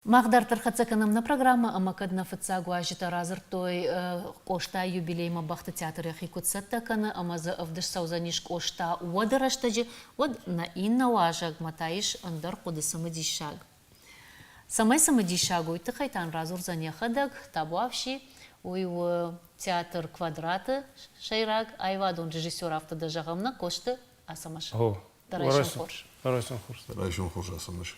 Мах дарддӕр хӕццӕ кӕнӕм нӕ программӕ ӕмӕ кӕд нӕ фыццаг уазджытӕ радзырдтой Къостайы юбилеймӕ бӕхты театр йӕхи куыд цӕттӕ кӕны ӕмӕ дзы ӕвдыст цӕудзӕнис Къоста уӕды рӕстӕджы, уӕд нӕ иннӕ уазӕгмӕ та ис ӕндӕр хъуыды цымыдиссаг. Цӕмӕй цымыдиссаг уый тыххӕй та нын радзурдзӕн йӕхӕдӕг Табуафси. Уый у театр Квадрат-ы сӕйраг аивадон режиссер, афтӕ дӕ зӕгъӕм нӕ Къосты Ацӕмӕз. О, Райсом хорз. Райсом хорз. Райсом хорз, Ацӕмӕз.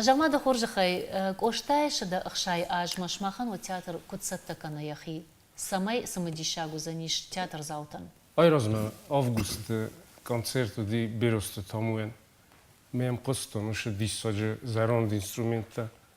Замады хорзӕхӕй, Къостайы сыды ӕхсӕй азмӕ сымахӕн уӕ театр куыд цӕттӕ кӕны йӕхи? Цӕмӕй цымыдисаг уыдзӕнис театрдзаутӕн? Айразмӕ августы концерт уыди Берозты Тамуйӕн. Ме мхъызтон уыцы диссаджы зӕронд инструменттӕ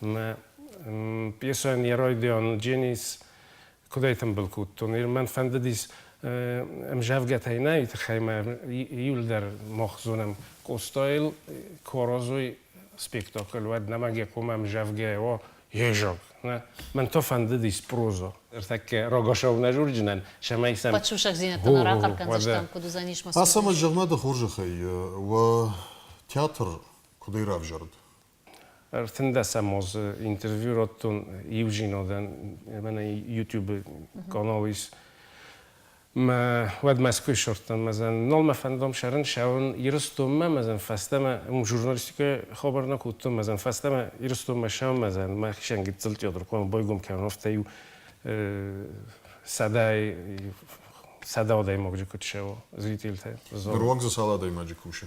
Мӕ пьесӕн Еройдион Дженис кудӕй тымбыл кодтон. Мӕн фӕндыдис ӕмзӕвгӕтӕй нӕй тыххӕймӕ июлдӕр мох зонӕм Къостайыл Корозой спектакль уӕд нӕма гекъома ӕмзӕвгӕ о Ежог. Мӕн то фӕндыдис прозо. Ӕртӕккӕ рогосау нӕ журджынӕн, цӕмӕй сӕм. Падсусӕгдзинӕдтӕн ӕрахъӕр кӕндзыстӕм, куыд уыдзӕнис мӕ цуры. Ацӕмӕй зӕгъ-ма дӕ хорзӕхӕй, уӕ театр куыдӕй равзӕрд? Ӕртындӕсӕм азы интервью радтон иу зинадӕн, мӕнӕ YouTube-ы канал ис. Мӕ, уӕд Мӕскуыйы ссардтам мӕзӕн. Нал мӕ фӕндам сӕрын сӕуын Ирыстонмӕ, мӕзӕн фӕстӕмӕ уым журналистикӕйы хабар нӕ кодтон, мӕзӕн фӕстӕмӕ Ирыстонмӕ сӕуын мӕзӕн, мӕхицӕн гыццыл театр хъуамӕ байгом кӕнон, афтӕ-иу сӕдӕ сӕдӕ адӕймаджы куыд сӕуа зрителтӕ. Ныруаг дзы цал адӕймаджы кусы?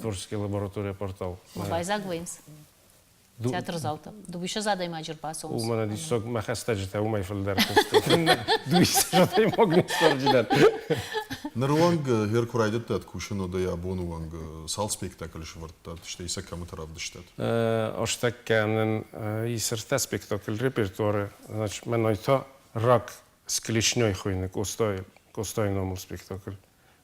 Творческая лаборатория портал. Мы байзаг уӕймс. Театрзалтӕ. Дууисӕз адӕймаджы рбацӕуынц. У мӕнӕ диссаг мӕ хӕстӕджытӕ уымӕй фылдӕр куыстой. Дууисӕз адӕймаг ныфсӕрджытӕ. Ныры онг Гер куы райдыдтат кусын, уӕд ӕй абоны онг цал спектакль сӕвӕрдтат, стӕй сӕ кӕмыты равдыстат? Остӕг кӕнын исырдта спектакль репертуары, значит, мӕнӕй та Рак с клешней хуыйны Къостайы Къостайы номыл спектакль.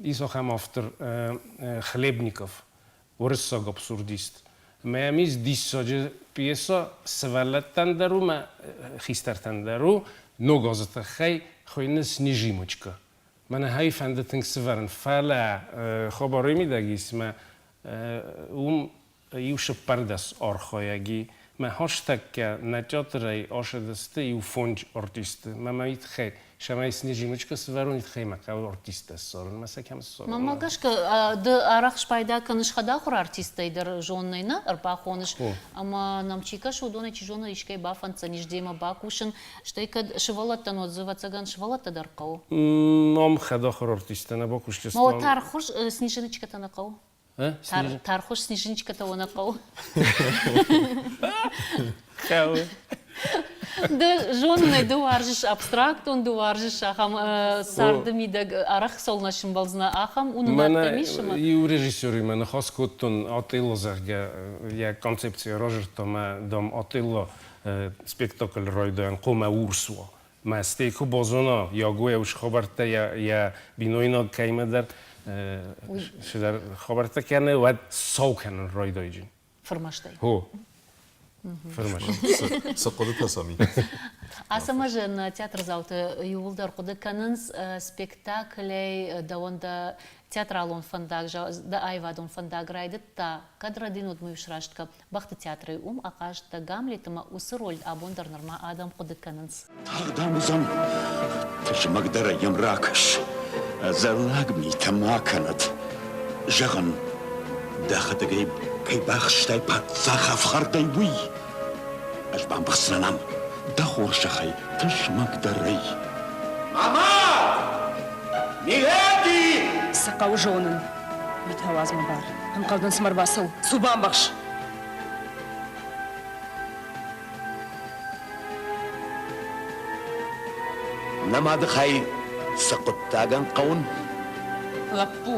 Ис ахӕм автор Хлебников, уырыссаг абсурдист, ӕмӕ йӕм ис диссаджы пьесӕ, сывӕллӕттӕн дӕр у мӕ хистӕртӕн дӕр у, ног азы тыххӕй хуыйны Снежимочка. Мӕнӕ ӕй фӕнды тынг сывӕрын, фӕлӕ хабарӕй мидӕг ис мӕ уым Иусыппӕрдӕс архайӕги мӕ хӕстӕггӕ нӕ театрӕй ашыдысты иу фондз артисты. Мӕмӕ итхӕй, сӕмӕй сни зимочка сывӕрун, итхӕй мӕ хъӕуы артисттӕ ссарын, мӕ сӕ кӕм ссарын? Мӕнмӕ гӕсгӕ, ды арӕх спайда кӕныс хӕдахуыр артисттӕй дӕр, зонынӕй нӕ ӕрбахоныс, ӕмӕ нӕм чи кӕсы, уыдонӕй, чи зоны, искӕй бафӕнддзӕнис демӕ бакусын, стӕй кӕд сывӕллӕттӕн уӕд дзы, ӕвӕццӕгӕн, сывӕллӕттӕ дӕр хъӕуы. Ном хӕдахуыр артисттӕ нӕ бакусдзыстӕм. Ма уӕд тархъхуыз сниженочкӕтӕ нӕ хъӕуы? Тархуш снежинчика-то она хъӕуы. Хъӕуы. Ды зонынӕй ды уарзыс абстрактон, ды уарзыс ахӕм царды мидӕг арӕх цӕуылнӕ сымбӕлдзынӕ ахӕм уынынад исымы. Иу режиссеримӕ ныхас кодтон Атъилло, зӕгъгӕ, йӕ концепци разырдта мӕ дам Атъилло спектакль райдайӕн хъумӕ урс у. Мӕстӕй ку базона, Яго еу хабӕрттӕ йӕ бинойнаг кӕимӕдӕр шыдӕр хабӕрттӕ кӕны, уӕд сау кӕнын райдайджын. Фырмӕстӕй. Хо. Фырмӕст. Цы хъуыдытӕ сӕм и? Ацӕмӕзӕн театрдзауты иууылдӕр хъуыды кӕнынц спектаклӕй дӕуӕн дӕ театралон фӕндаг, дӕ аивадон фӕндаг райдыдта, кӕд Родин уыдмӕ иу сраст кӕп, Бӕхты театрӕй уым ахъазтӕ Гамлет ӕмӕ уыцы роль абон дӕр нырма адӕм хъуыды кӕнынц. Тагъд ам уыдзӕн. Тызмӕгдӕрӕй йӕм ракӕс. Ӕдзӕллаг митӕ ма кӕнӕд. Зӕгъын, дӕхӕдӕгӕй кӕй бахстай паддзах ӕфхӕрдӕй, уый. Ӕз бамбӕхсынӕн ам, дӕ хорзӕхӕй, тызмӕгдӕрӕй. Ама! Миледи! Цы хъӕуы зонын? Мит ауадз-ма бар. Ӕнхъӕл дын цыма рбацӕуы. Цу, бамбӕхс! Нӕ мадыхай, цы хъуыддагӕн хъӕуын? Лӕппу,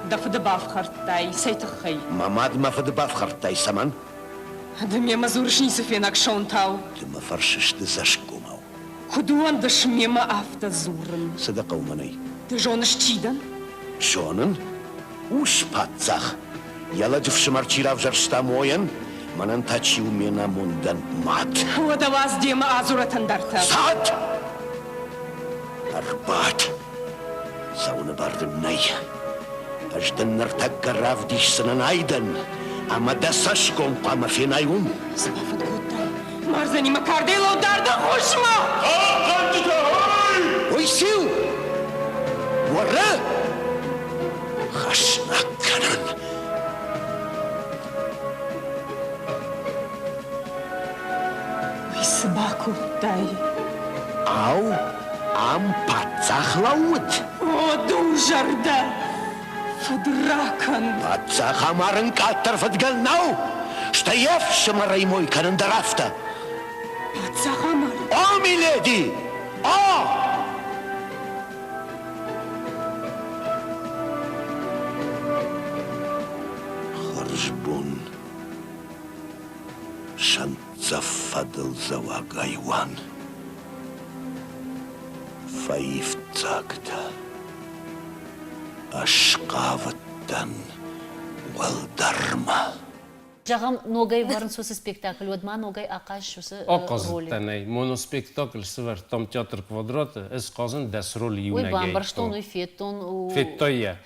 дӕ фыды бафхӕрдтай, цӕй тыххӕй? Мӕ мад мӕ фыды бафхӕрдтай, цӕмӕн? Ды мемӕ дзурыс, ницы фенӕг сонтау. Ды мӕ фӕрсыс, ды цӕсгомау. Куыд уӕндыс мемӕ афтӕ дзурын? Цы дӕ хъӕуы мӕнӕй? Ды зоныс, чи дӕн? Зонын? Ус-паддзах! Йӕ лӕджы фсымӕр чи равзӕрста мойӕн, мӕнӕн та чи у ме намондӕн мӕт? Уӕдӕ уадз демӕ адзурӕт ӕндӕртӕ. Цӕт! Ӕрбад! Цӕуыны бар дын нӕй. Ӕз дын ныртӕккӕ равдисдзынӕн айдӕн, ӕмӕ дӕ цӕсгом хъуамӕ фенай уым. Цы бафӕнд кодтай? Мӕрзӕнимӕ кардӕйлау дар дӕ хъусмӕ! Хъахъхъӕнджытӕ, ой! Уый циу? Уӕрӕ! Хӕснаг кӕнӕн! Уый цы бакодтай? Ау, Ам паддзах лӕууыд? О, дурзӕрдӕ! Фыдракӕн! Паддзах амарын къаддӕр фыдгӕн нӕу, стӕй йе фсымӕрӕй мой кӕнын дӕр афтӕ. Паддзах амары? О, миледи! О! Хӕрзбон, Шант. Цӕф фӕдылдзӕуӕг айуан Фӕивддзагтӕ Ӕсхъавыдтӕн уӕлдӕрмӕ Зӕгъӕм, ногӕй ӕвӕрынц уыцы спектакль, уӕд ма ногӕй ахъаз уыцы Ахъазыдтӕнӕй. Моноспектакль сывӕрдтам Театр Квадраты, ӕз хъазын дӕс роль иунӕгӕй. Уый бамбӕрстон, уый федтон. Федтай йӕ?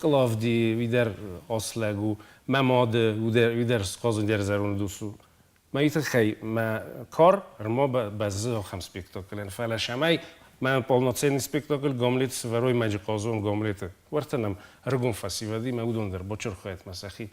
Клавди уидӕр ас лӕг у, мӕ мады уидӕр схъазун дӕр зӕронд ус у. Мӕй тыххӕй мӕ кар ӕрма бӕззы ахӕм спектаклӕн, фӕлӕ сӕмӕй мӕ полноценный спектакль Гомлет сварой-мӕ-джы хъазон Гомлет-ы. Уӕртӕ нӕм ӕрыгон фӕсивӕд и мӕ уыдон дӕр Бочырхуатмӕ сӕхи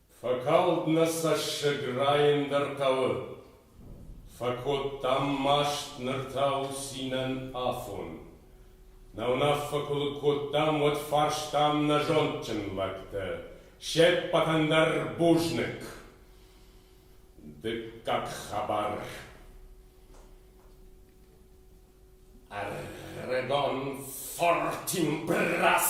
Фӕкалд нӕ цӕссыг, райын дӕр хъӕуы. Фӕкодтам маст ныр та у цинӕн афон. Нӕ уынаффӕ куы лыг кодтам, уӕд фарстам нӕ зондджын лӕгтӕ, се ппӕтӕн дӕр бузныг. Дыккаг хабар. Арагон Фортимбрас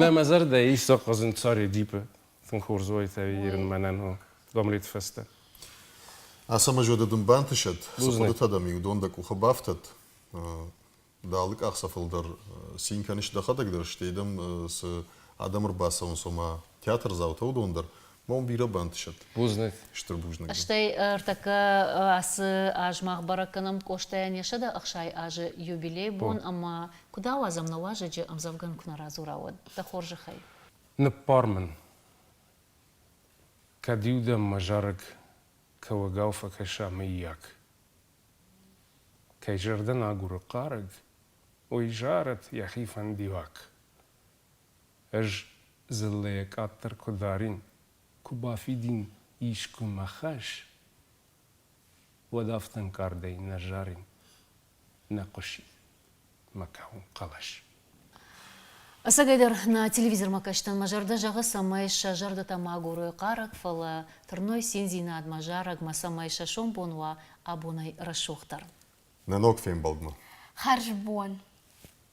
Нӕ мӕ зӕрдӕ ис сӕхъхъызын Царедипы. Тынг хорз уаид ӕви ирын мӕнӕн у гомлет фӕстӕ. Ацӕмӕзоды дын бантысӕд, цы хъуыдытӕ дӕм-иу дон дӕ къухы бафтӕд. Ды алы къахдзӕфыл дӕр цин кӕныс дӕхӕдӕг дӕр, стӕй дӕм цы адӕм ӕрбацӕуынц, ома театрдзаутӕ, уыдон дӕр, Мон бирӕ бантысӕд. Бузныг. Стыр бузныг. Стӕй ӕртӕккӕ ацы аз мах бӕрӕг кӕнӕм Къостайӕн йӕ сӕдӕ ӕхсай азы юбилей бон ӕмӕ куыд ауадзӕм нӕ уазӕджы ӕмдзӕвгӕн куы нӕ радзура, уӕд, дӕ хорзӕхӕй. Ныббар мын. Кӕд-иу дӕм мӕ зарӕг кӕуӕгау фӕкӕса, мыййаг? Кӕй зӕрдӕ нӕ агуры хъарӕг, уый зарӕд йӕхи фӕндиаг. Ӕз дзыллӕйӕ къаддӕр куы дарин, куы бафидин искуы мӕ хӕс, уӕд афтӕ ӕнкъардӕй нӕ зарин, нӕ хъуысид мӕ кӕуын хъӕлӕс. Ӕцӕгӕйдӕр, нӕ телевизормӕ кӕстӕн мӕ зӕрдӕ зӕгъы, цӕмӕй сӕ зӕрдӕтӕ ма гурой хъарӕг, фӕлӕ тырной циндзинадмӕ, зарӕгмӕ, цӕмӕй сӕ сомбон уа абонӕй рӕсугъддӕр. Нӕ ног фембӕлдмӕ. Хӕрзбон!